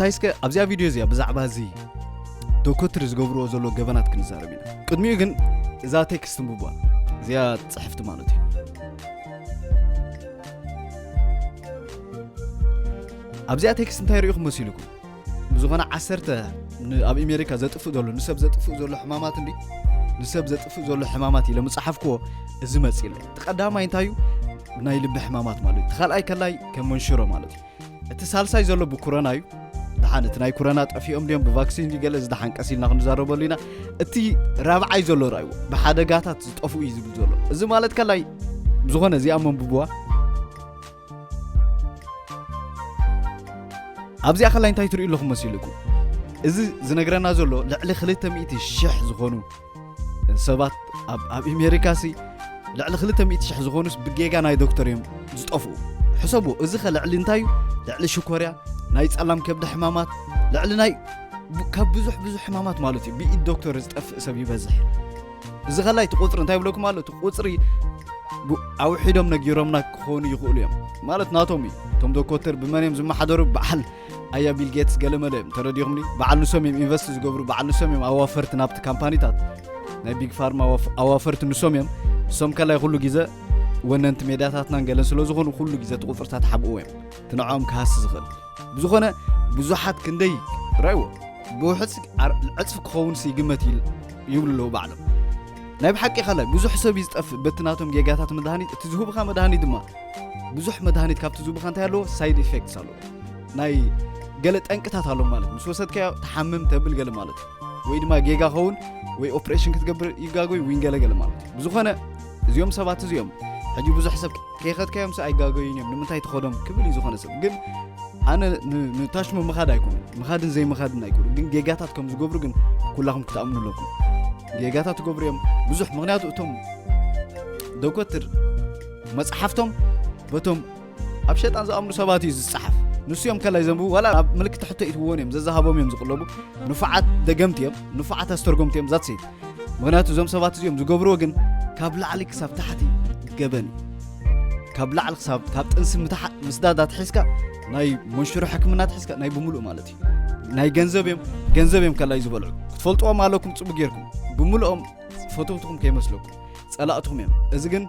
እንታይ እስከ ኣብዚኣ ቪድዮ እዚኣ ብዛዕባ እዚ ዶኮትሪ ዝገብርዎ ዘሎ ገበናት ክንዛረብ ኢና ቅድሚኡ ግን እዛ ቴክስት ንብቧ እዚኣ ፅሕፍቲ ማለት እዩ ኣብዚኣ ቴክስት እንታይ ርኢኹም መሲልኩም ብዝኾነ ዓሰርተ ኣብ ኣሜሪካ ዘጥፍእ ዘሎ ንሰብ ዘጥፍእ ዘሎ ሕማማት እንዲ ንሰብ ዘጥፍእ ዘሎ ሕማማት ኢለ ምፅሓፍክዎ እዚ መፅእ እቲ ቀዳማይ እንታይ እዩ ናይ ልቢ ሕማማት ማለት እዩ ካልኣይ ከላይ ከም መንሽሮ ማለት እዩ እቲ ሳልሳይ ዘሎ ብኩረና እዩ ድሓን እቲ ናይ ኩረና ጠፊኦም ድዮም ብቫክሲን ድዩ ገለ ዝድሓን ቀስ ኢልና ክንዛረበሉ ኢና እቲ ራብዓይ ዘሎ ርኣይዎ ብሓደጋታት ዝጠፍኡ እዩ ዝብል ዘሎ እዚ ማለት ከላይ ዝኾነ እዚኣ መንብብዋ ኣብዚኣ ከላይ እንታይ ትርእዩ ኣለኹም መሲልኩም እዚ ዝነግረና ዘሎ ልዕሊ 200 ሽሕ ዝኾኑ ሰባት ኣብ ኣብ ኣሜሪካ ሲ ልዕሊ 200,000 ዝኾኑስ ብጌጋ ናይ ዶክተር እዮም ዝጠፍኡ ሕሰቡ እዚ ከ ልዕሊ እንታይ እዩ ልዕሊ ሽኮርያ ናይ ጸላም ከብዲ ሕማማት ልዕሊ ናይ ብ- ካብ ብዙሕ ብዙሕ ሕማማት ማለት እዩ ብኢድ ዶክተር ዝጠፍእ ሰብ ይበዝሕ እዚ ከላይ እቲ ቁፅሪ እንታይ ብለኩም ኣሎ እቲ ቁፅሪ ብ- ኣውሒዶም ነጊሮምና ክኾኑ ይኽእሉ እዮም ማለት ናቶም እዩ እቶም ዶኮተር ብመን እዮም ዝመሓደሩ በዓል ኣያ ቢል ጌትስ ገለመለ እዮም ተረዲኹምኒ በዓል ንሶም እዮም ኢንቨስት ዝገብሩ በዓል ንሶም እዮም ኣዋፈርቲ ናብቲ ካምፓኒታት ናይ ቢግ ፋርማ ኣዋፈርቲ ንሶም እዮም ንሶም ከላይ ኩሉ ግዘ ወነንቲ ሜድያታትናን ገለን ስለ ዝኾኑ ኩሉ ግዘ እቲ ቁፅርታት ሓብእዎ እዮም እቲ ንዕኦም ክሃሲ ዝኽእል ብዝኾነ ብዙሓት ክንደይ ራይዎ ብውሕፅ ዕፅፊ ክኸውን ይግመት ይብሉ ኣለዉ ባዕሎም ናይ ብሓቂ ኸላይ ብዙሕ ሰብ እዩ ዝጠፍእ በቲ ናቶም ጌጋታት መድሃኒት እቲ ዝህብኻ መድሃኒት ድማ ብዙሕ መድሃኒት ካብቲ ዝህብኻ እንታይ ኣለዎ ሳይድ ኢፌክትስ ኣለዎ ናይ ገለ ጠንቅታት ኣሎ ማለት ምስ ወሰድካዮ ተሓምም ተብል ገለ ማለት እዩ ወይ ድማ ጌጋ ኸውን ወይ ኦፕሬሽን ክትገብር ይጋጎይ ወይ ገለገለ ማለት እዩ ብዝኾነ እዚኦም ሰባት እዚኦም ሕጂ ብዙሕ ሰብ ከይኸትካዮም ሰ ኣይጋገዩን እዮም ንምንታይ ተኸዶም ክብል እዩ ዝኾነ ሰብ ግን ኣነ ንታሽሙ ምኻድ ኣይኮኑ ምኻድን ዘይምኻድን ኣይኮኑ ግን ጌጋታት ከም ዝገብሩ ግን ኩላኹም ክትኣምኑ ኣለኩም ጌጋታት ትገብሩ እዮም ብዙሕ ምክንያቱ እቶም ዶኮትር መፅሓፍቶም በቶም ኣብ ሸጣን ዝኣምኑ ሰባት እዩ ዝጸሓፍ ንሱ እዮም ከላይ ዘንብቡ ዋላ ኣብ ምልክት ሕቶ ይትብዎን እዮም ዘዛሃቦም እዮም ዝቕለቡ ንፉዓት ደገምቲ እዮም ንፉዓት ኣስተርጎምቲ እዮም ዛት ሰይት ምክንያቱ እዞም ሰባት እዚኦም ዝገብርዎ ግን ካብ ላዕሊ ክሳብ ታሕቲ ገበን እዩ ካብ ላዕሊ ክሳብ ካብ ጥንሲ ምስዳዳ ትሒዝካ ናይ መንሽሮ ሕክምና ትሒዝካ ናይ ብምሉእ ማለት እዩ ናይ ገንዘብ እዮም ገንዘብ እዮም ከላይ ዝበልዑ ክትፈልጥዎም ኣለኩም ፅቡቅ ጌርኩም ብምልኦም ፈተውትኹም ከይመስለኩም ጸላእትኹም እዮም እዚ ግን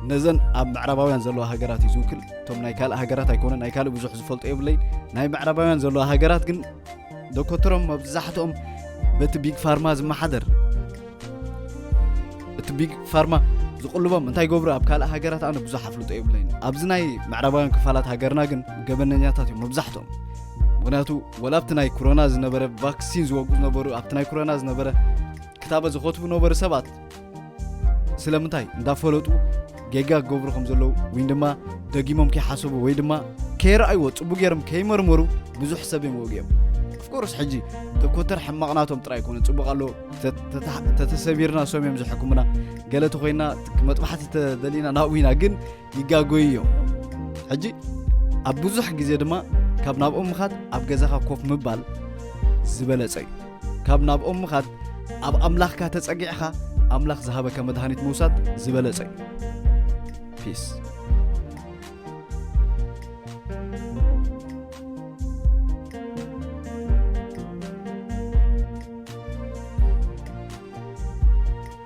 ነዘን ኣብ ምዕራባውያን ዘለዋ ሃገራት እዩ ዝውክል እቶም ናይ ካልእ ሃገራት ኣይኮነ ናይ ካልእ ብዙሕ ዝፈልጦ የብለይ ናይ ምዕራባውያን ዘለዋ ሃገራት ግን ዶኮተሮም መብዛሕትኦም በቲ ቢግ ፋርማ ዝመሓደር እቲ ቢግ ፋርማ ዝቕልቦም እንታይ ገብሩ ኣብ ካልእ ሃገራት ኣነ ብዙሕ ኣፍልጦ የብለይን ኣብዚ ናይ ምዕራባውያን ክፋላት ሃገርና ግን ገበነኛታት እዮም መብዛሕትኦም ምክንያቱ ወላ ኣብቲ ናይ ኮሮና ዝነበረ ቫክሲን ዝወጉ ዝነበሩ ኣብቲ ናይ ኮሮና ዝነበረ ክታበት ዝኸትቡ ነበሩ ሰባት ስለምንታይ እንዳፈለጡ ጌጋ ክገብሩ ከም ዘለዉ ወይ ድማ ደጊሞም ከይሓሰቡ ወይ ድማ ከይረኣይዎ ፅቡቅ ገይሮም ከይመርመሩ ብዙሕ ሰብ እዮም ወጊኦም ኣፍኮርስ ሕጂ ተኮተር ሕማቕናቶም ጥራይ ኮነ ፅቡቅ ኣሎ ተተሰቢርና ሰም እዮም ዝሕክሙና ገለ ተኮይና መጥባሕቲ ተደሊና ናብኡ ኢና ግን ይጋጎዩ እዮም። ሕጂ ኣብ ብዙሕ ግዜ ድማ ካብ ናብኦም ምኻድ ኣብ ገዛኻ ኮፍ ምባል ዝበለጸ እዩ። ካብ ናብኦም ምኻድ ኣብ ኣምላኽካ ተጸጊዕኻ ኣምላኽ ዝሃበካ መድሃኒት ምውሳድ ዝበለጸ እዩ። ፒስ